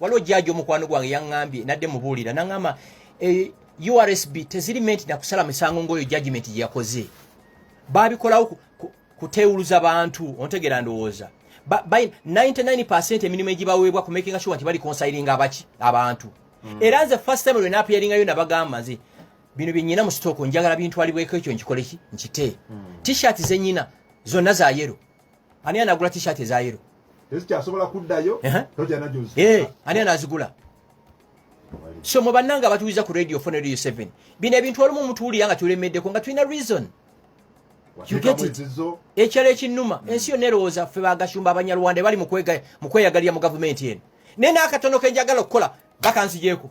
waliwo jaaji omukwano gwange yaŋŋambye nadde mubuulira naŋŋamba eh, ursb teziri menti nakusala misango ng'oyo judgment gye yakoze baabikolawo kuteewuluza bantu ontegeera ndowooza 99 emirimu egibaweebwa kumakinga sure nti bali konsayiringa abaki abantu mm. era nze first time lwenaapyaringayo nabagamba nze bino byenyina mu sitooko njagala bintwalibweko ekyo nkikoleki nkite mm. t-shirt zenyina zonna za yero ani anagula t-shirt eza yero ezikyasobola kuddayo eh, ani anazigula so mu bannanga abatuwiza ku radio fo ne radio 7 bino ebintu walimu omutuwulira nga tulemeddeko nga tulina reason ekyalo ekinnuma hmm. ensi yonna erowooza ffe bagashumba abanyarwanda bali mu kweyagalira mu gavumenti eno naye n'akatono ke njagala okukola bakanzigyeko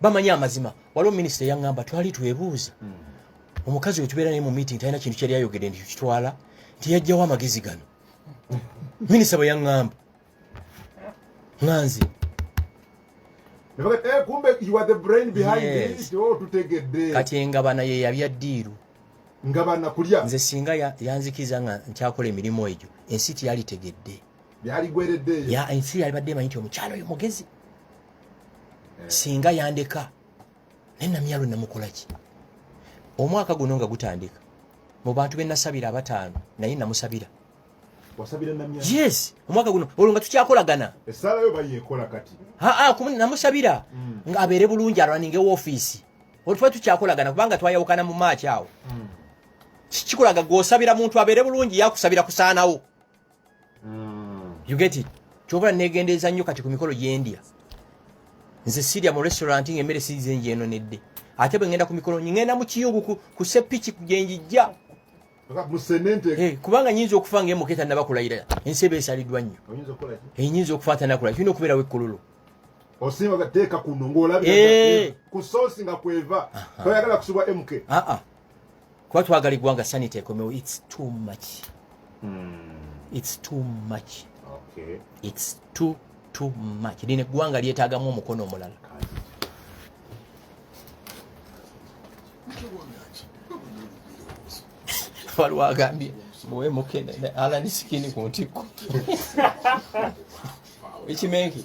bamanyi amazima waliwo minisita eyaŋŋamba twali twebuuza hmm. omukazi we tubeera naye mu meeting talina kintu kyali ayogedde nti kitwala nti yajjawo amagezi gano minisita bwe yaŋŋamba nga nze eh, oh, kati engabana ye yabya ddiiru ngabana kulya nze singa yanzikiza nga nkyakola emirimu egyo ensi teyalitegedde yaligwereddeyo ensi yalibadde emanyi nti omukyalo oyo mugezi singa yandeka naye namyalo namukolaki omwaka guno nga gutandika mu bantu benasabira abataano naye namusabira yes omwaka guno olwo nga tukyakolagana namusabira mm. nga abeere bulungi araninga ewofiisi olwo tuba tukyakolagana kubanga twayawukana mu maaki awo mm. kikikolaga gwosabira muntu abeere bulungi yakusabira kusaanawo mm. you get it kyobula negendereza nnyo kati ku mikolo gyendya nze sirya mu restaurant nga emmere size njeno nedde ate bwe ngenda ku mikolo ngenda mu kiyungu ku sepiki gyenjijja eh, kubanga nyinza okufa nga emuketa nabakulayira ensi eba esaliddwa nnyo enyinza eh, okufa ate nakulaya tulina okubeerawo ekkululu osimba gateeka kuno ng'olabira eh. ku soosi nga kweva toyagala kusibwa mk ah, ah. kuba twagala eggwanga sanity ekomewo its too much hmm. its too much okay. its too too much lino eggwanga lyetagamu omukono omulala waliwo agambye muwe mukene alani sikini ku ntikko ekimenki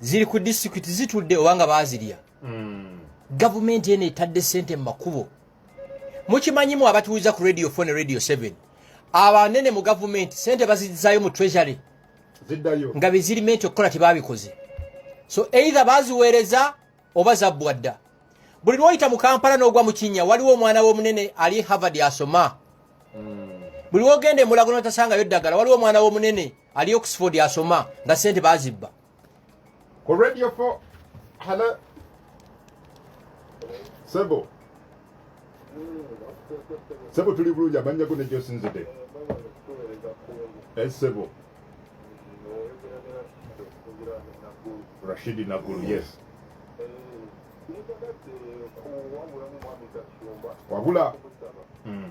ziri ku disitulikiti zitudde oba nga baazirya hmm. gavumenti eno etadde ssente mu makubo mukimanyimu abatuuza ku radio fone radio 7 abanene mu gavumenti ssente bazizaayo mu treasury nga bezirimenti okukola tebabikoze so either baziweereza oba zabbwa dda buli lwoyita mu kampala n'ogwa mu kinnya waliwo omwana w'omunene ali havard asoma hmm. buli wogenda emulago notasangayo ddagala waliwo omwana w'omunene ali oxford asoma nga sente bazibba ku radio fo halo sebo sebo tuli bulungi amanya go nejosinzide esebo eh, Rashidi Naguru, yes. Wabula. Mm.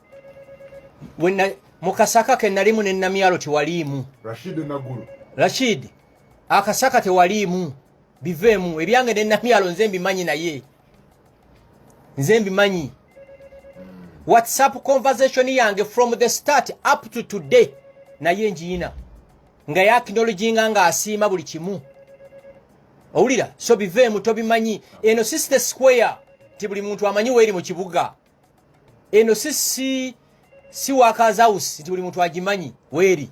mu kasaka ke nalimu ne namyalo tewaliimu rashid akasaka tewaliimu biveemu ebyange ne namyalo nze mbimanyi naye nze mbimanyi whatsapp conversation yange from the start up to today naye njiyina nga yakinologinga ng'asiima buli kimu owulira so biveemu tobimanyi eno sister square ti buli muntu amanyi weeri mu kibuga eno sisi si wakazawusi nti buli muntu agimanyi weeri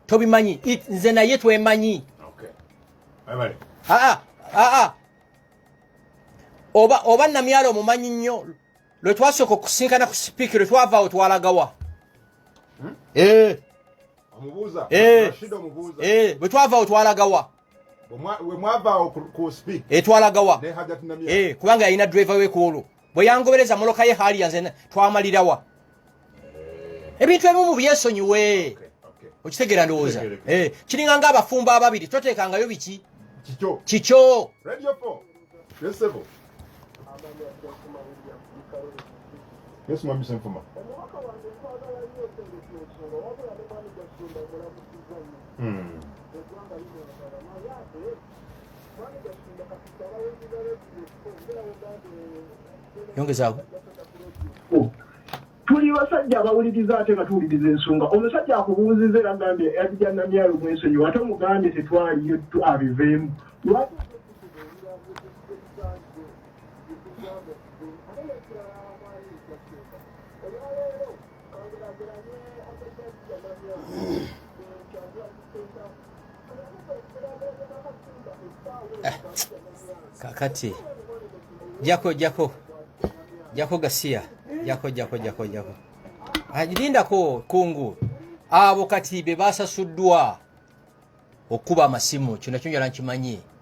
tobimanyi nze naye twemanyi aa aa oba oba namyalo omumanyi nnyo lwe twasooka okusinkana ku sipiiki lwe twavaawo twalagawa hmm? eh. eh. eh, bwe twavaawo twalagawa etwalagawa kubanga yalina driver we ku olwo bwe yangobereza moloka ye haliya nze twamalirawa ebintu ebimu byesonyiwe okitegeera ndowooza eh, kiringa nga abafumbo ababiri toteekangayo biki kikyo hmm. yongezaako oh. tuli basajja abawuliriza ate nga tuwuliriza ensonga omusajja akubuuziza era gambye yajja namyalo mwensonyiwa ate omugambye tetwaliyo tu abiveemu lwaki eh, kakati jako jako jako gasiya jako jako jako jako ajilindako kungu abo kati be basasuddwa okuba amasimu kino nakyo njala nkimanyi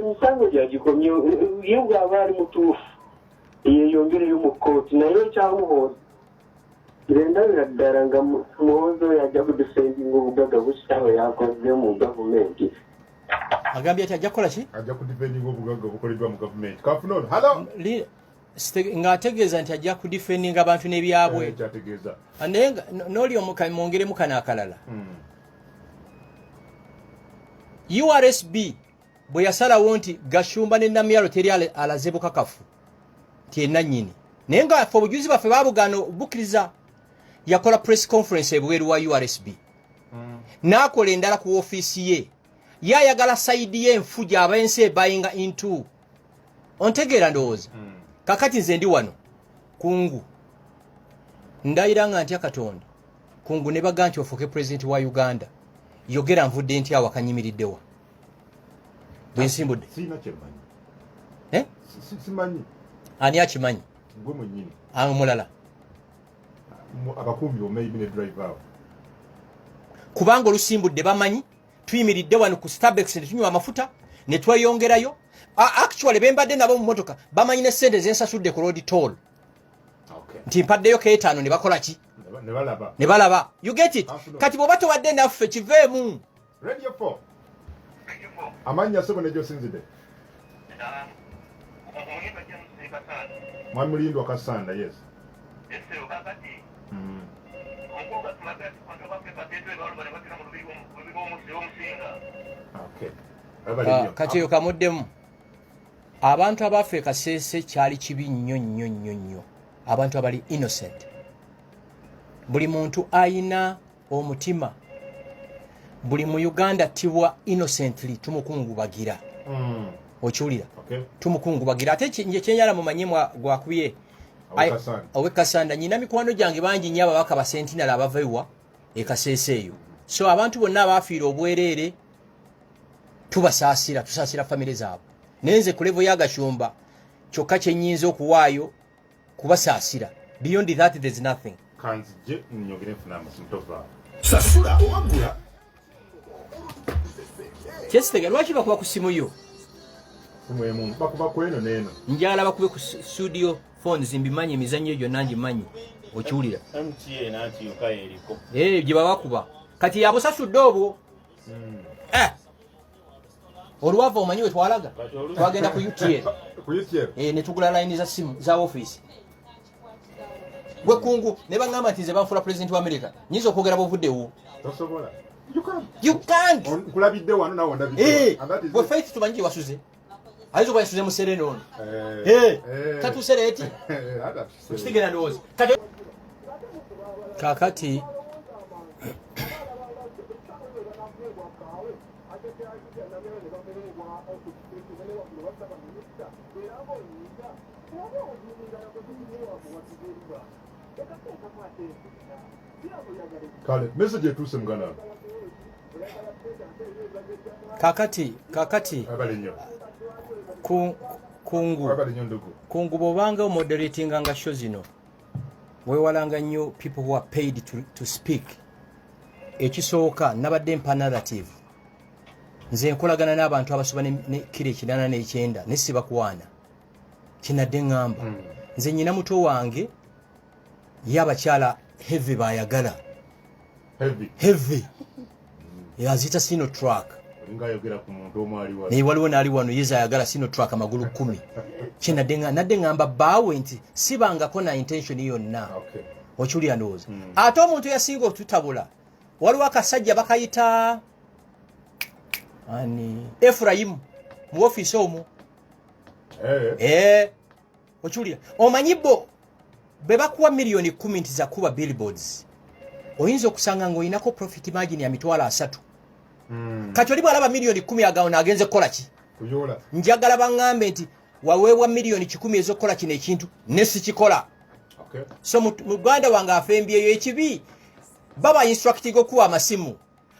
emisango gyagikomye ye bwaba ali mutuufu yeyongereyo mu kooti naye ekyamuhoozi ngendabira ddala nga muhoozi oyo ajja kudifendinga obugaga bukitaawe yakoze mu gavumenti agambye ti ajja kukola ki ajja kudifendinga obugaga obukoleddwa mu gavumenti kafuna ono halo ng'ategeeza nti ajja kudifendinga abantu n'ebyabwe eh, ah, naye n'oli omwongeremu kano akalala hmm. ursb bwe yasalawo nti gashumba ne namyalo teri alaze bukakafu nti enannyini naye nga fe obujuzi baffe babugaana obukkiriza yakola press conference ebweru wa ursb hmm. n'akola endala ku ofiisi ye ye ayagala sayidi ye enfu gy'aba ensi ebayinga into ontegeera ndowooza hmm. kakati nze ndi wano kungu ndayira nga ntya katonda kungu ne baga nti ofuuke pulezidenti wa uganda yogera nvudde nti awo akanyimiriddewa bwensimbudde eh? ani akimanyi ah, mulala kubanga olusimbudde bamanyi tuyimiridde wano ku starbex ne tunywa amafuta ne tweyongerayo actually bembadde nabo mu motoka bamanyi ne sente zensasudde ku road toll nti mpaddeyo keetaano ne bakola ki ne balaba you get it kati bwoba towadde naffe kiveemu amannya sebo nejosinzide mwami mulindwa kasanda yes mm. okay. Ah, kati eyo kamuddemu abantu abaffe kasese kyali kibi nnyo nnyo nnyo nnyo abantu abali innocent buli muntu ayina omutima buli mu uganda tibwa innocently tumukungubagira mm. okiwulira okay. tumukungubagira ate kyenyala mumanye gwakubye owekasanda nyina mikwano gyange bangi nyo ababaka basentinal abava ewa ekaseesa eyo so abantu bonna abaafiira obwereere tubasaasira tusaasira famire zaabwe naye nze kulevo yagashumba kyokka kyenyinza okuwaayo kubasaasira beyond that there is nothing kanzije nyogere nfuna amasimu tova sasula owagula kyesitega lwaki bakuba ku simu yo mwemu bakuba kweno neno njala bakube ku studio phones mbimanyi emizannyo egyo nangi manyi okiwulira eh, gye babakuba kati yabusasudde obwo hmm. eh. olwava omanyi wetwalaga twagenda ku utl eh, netugula layini za simu za ofiisi gwekungu ne bagamba nti nze banfula pulezidenti wa amerika nyinza okwogera bwovuddewo gwe faith tumanyi gyewasuze ayinza okuba yasuze muserene ono eh. eh. tatusereeti kakati kale message etuuse muganda kakati kakati kungu kungu bwobanga omoderatinga nga sho zino wewalanga nnyo people who are paid to, to speak ekisooka nabadde mpa narrative nze nkolagana n'abantu abasoba ne kiro ekinana n'ekyenda ne sibakwana kinadde ŋŋamba hmm. nze nyina muto wange ye abakyala heavy bayagala heavy aziyita sino track naye waliwo naali wano yeza ayagala sino track amagulu kumi kyenadde ngamba baawe nti sibangako na intention yonna okiwulira ndowooza hmm. ate omuntu yasinga otutabula waliwo akasajja bakayita ani efurayimu mu ofiisi omwo eh. eh. okiwulira omanyi bo bwe bakuwa miliyoni kumi nti zakuba billboards oyinza okusanga ng'olinako profit margin ya mitwalo asatu hmm. kati oli bwalaba miliyoni kumi agawo naagenze kukola ki njagala baŋŋambe nti waweebwa miliyoni kikumi ez'okukola kino ekintu ne sikikola so muganda wange afembyeyo ekibi baba instructing okuwa amasimu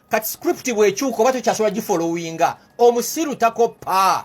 kati script bwekyuka oba tokyasobola gifolowinga omusiru takoppa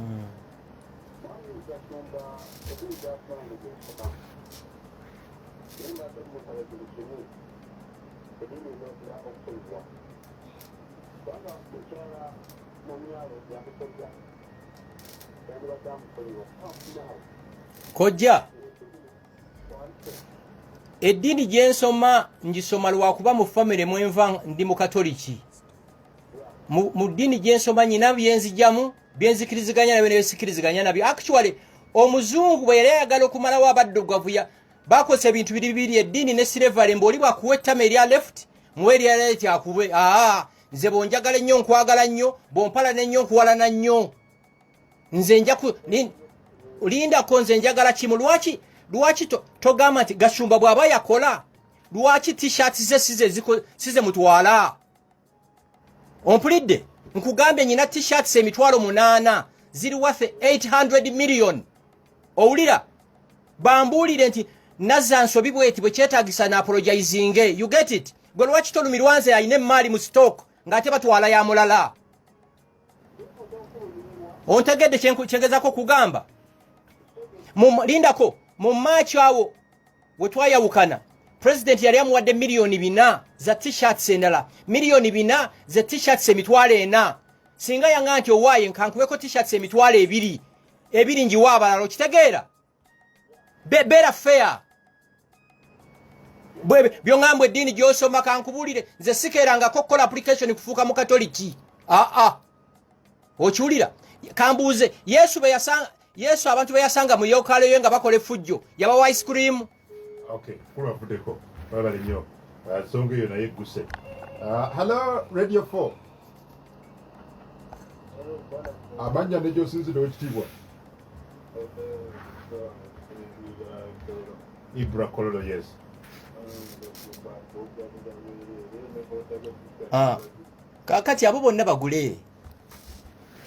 Mm. kojja eddiini gyensoma ngisoma lwakuba mu famire mwenva ndi mukatoliki mu ddini gyensoma nyina byenzijamu byenzikiriziganya nabyo nebisikiriziganya nabyo actually omuzungu bwe yali ayagala okumalawo abaddugavu bakozesa ebintu biri bibiri eddiini ne silevale mbu oli bwakuwa ettama erya left muwe erya right akube aa nze bwonjagala ennyo nkwagala nnyo bwompalana ennyo nkuwalana nnyo nze njaku lindako nze njagala kimu lwaki lwaki togamba nti gashumba bw'aba yakola lwaki t-shirt ze size ziko size mutwala ompulidde nkugambye nyina t-shirts emitwalo munana ziri worth 800 million owulira bambuulire nti nazza nsobi bweti bwe kyetagisa na apologizinge you get it gwe lwaki tolumirwa nze alina emmaali mu stock ng'ate batwala ya mulala ontegedde kyengezako kugamba lindako mu maaci awo we twayawukana pulezidenti yali amuwadde miliyoni bina za tishats endala miliyoni bina ze tishats emitwalo ena singa yanga nti owaaye nkankubeko tishats emitwalo ebiri ebiri njiwa abalala okitegeera beera feya byoŋambwa eddiini gyosoma kankubulire nze sikeerangako okukola application kufuuka mukatoliki aa ah, ah. okiwulira kambuuze yesu beyasanga yesu abantu beyasanga mu yokaalo ye nga bakola efujjo yabawa ice cream kulwavudeko babale nyo ah, nsonga eyo naye egguse ah, hallo radio 4 amanya negyosinzira ekitiibwa ibra kololo yes ah. kakati abo bonna bagule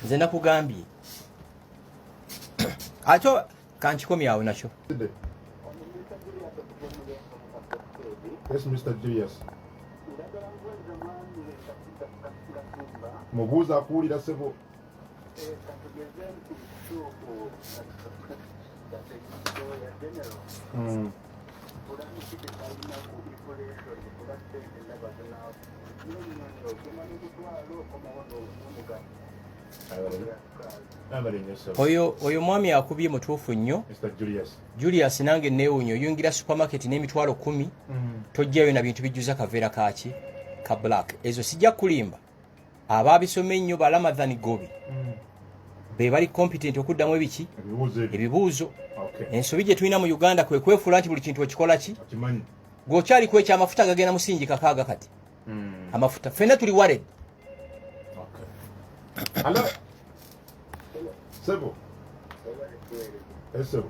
nze nakugambye ate kankikomye awo nakyo mubuuza akuwulira sebo Mm. oyo oyo mwami akubye mutuufu nnyo julius nange neewunya oyungira supermarket n'emitwalo kumi mm. tojjayo na bintu bijjuza kaveera kaaki ka black ezo sijja kulimba abaabisoma ennyo ba lamadhan gobi mm. be bali competent okuddamu ebiki ebibuuzo ensobi gye tulina mu uganda kwe kwefuula nti buli kintu okikola ki gweokyali ku ekyo amafuta gagenda musingi kakaaga kati mm. amafuta ffenna tuli wared Sebo. Sebo.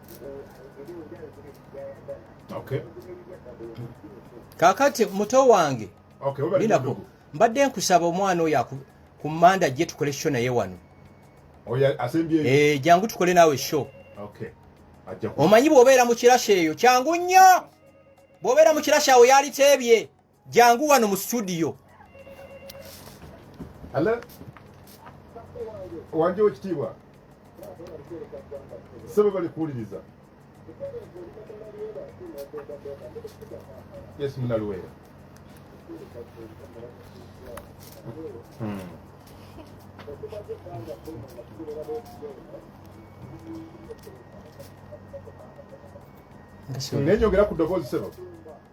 kakati muto wange binako mbadde nkusaba omwana oyo ku manda gye tukole sho naye wano eh, jangu tukole naawe sho omanyi bw'obeera mu kirasha eyo kyangu nnyo bw'obeera mu kirasha awo yaliteebye Jangu wano mu studio. Hello. Wanje wekitiibwa. Sebe bali kuwuliriza. Yes, Munaluwera. Hmm. Ngenyongera ku ddoboozi sebo.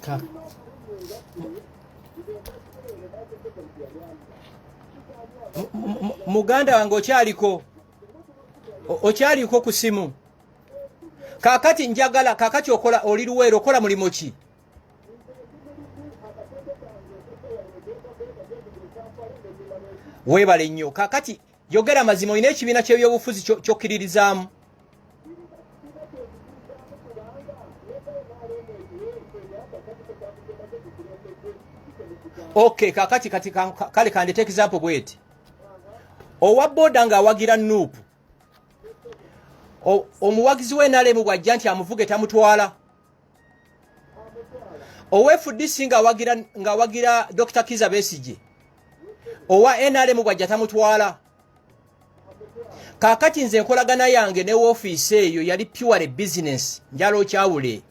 Ka. muganda wange okyaliko okyaliko ku simu kakati njagala kakati okola oli luweero okola mulimu ki weebale nnyo kakati Yogera mazima olina ekibiina ky'ebyobufuzi ky'okkiririzaamu. Okay, kakati kati kale kandete example bweti. Owa boda nga awagira nup. Omuwagizi we nalemu bwajja nti amuvuge tamutwala. owa fdc ng'awagira ng'awagira dr kiza besigye owa nrm bwajja tamutwala kakati nze enkolagana yange ne woofiisi eyo yali puwale bizinesi njala okyawule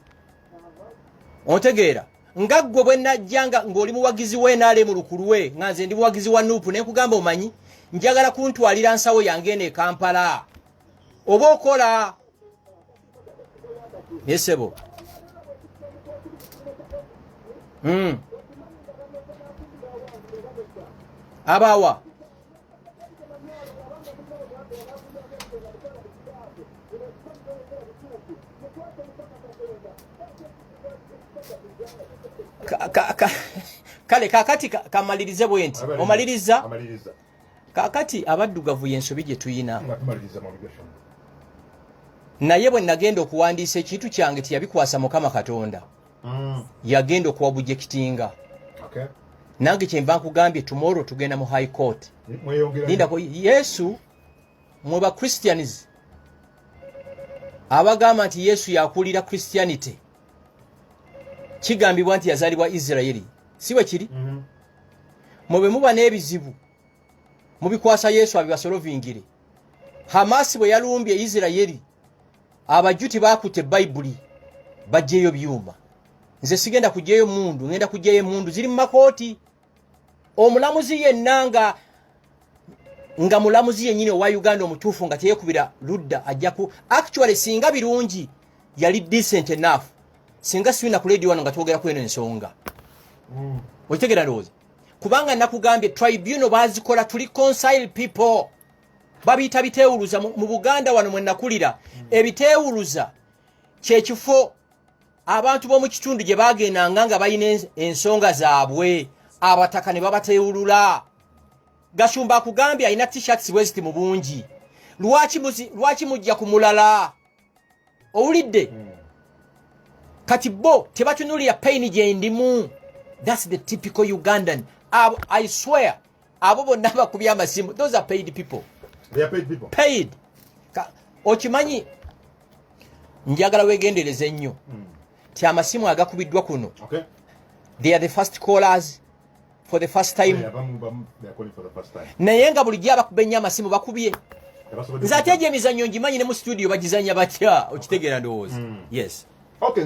ontegeera nga ggwe bwe najja nga ng'oli muwagizi wa nrm lukulwe nga nze ndi muwagizi wa nuupu ne nkugamba omanyi njagala kuntwalira nsawo yange eno e kampala oba okola naye sebo hmm. abawa kale kakati kamalirize bwenti omaliriza kakati abaddugavu yensobi gye tuyina naye bwe nagenda okuwandiisa ekintu kyange teyabikwasa mukama katonda mm. yagenda okuwa bujekitinga nange kyenva nkugambye tomorrow tugenda mu high court lindako yesu mwe ba christians abagamba nti yesu yakulira christianity kigambibwa nti yazalibwa isiraeri si bwe kiri mm -hmm. mwe bwe muba n'ebizibu mubikwasa yesu abibasolovingire hamasi bwe yalumbye isirayeri abajuti bakutte bayibuli bajjeeyo byuma nze sigenda kujjayo mundu ngenda kujjayo emundu ziri mu makooti omulamuzi yenna nga nga mulamuzi yennyini owa uganda omutuufu nga teyekubira ludda ajjaku actually singa birungi yali decent enough singa siwina ku ledi wano nga twogera kweno ensonga mm. okitegera ndowooza kubanga nakugambye tribunal bazikola tuli consile people babiyita bitewuluza mu buganda wano mwenakulira mm. ebitewuluza kyekifo abantu b'omu kitundu gye baagendanga nga balina ensonga zaabwe abataka ne babateewulula gashumba akugambye alina tishats bweziti mu bungi lwaki mujja ku mulala owulidde hmm. kati bo tebatunulira paini gyendimu thats the typical ugandan i swear abo bonna bakubye amasimu those are paid people they are paid people paid Ka, okimanyi njagala wegendereze nnyo mm. ti amasimu agakubiddwa kuno okay. they are the first callers for the first time yeah, bamu, bamu, they are calling for the first time naye nga bulijjo abakuba ennyo amasimu bakubye nze ate egyo emizannyo ngimanyi ne mu studio bagizanya batya okitegeera ndowooza mm. yes okay,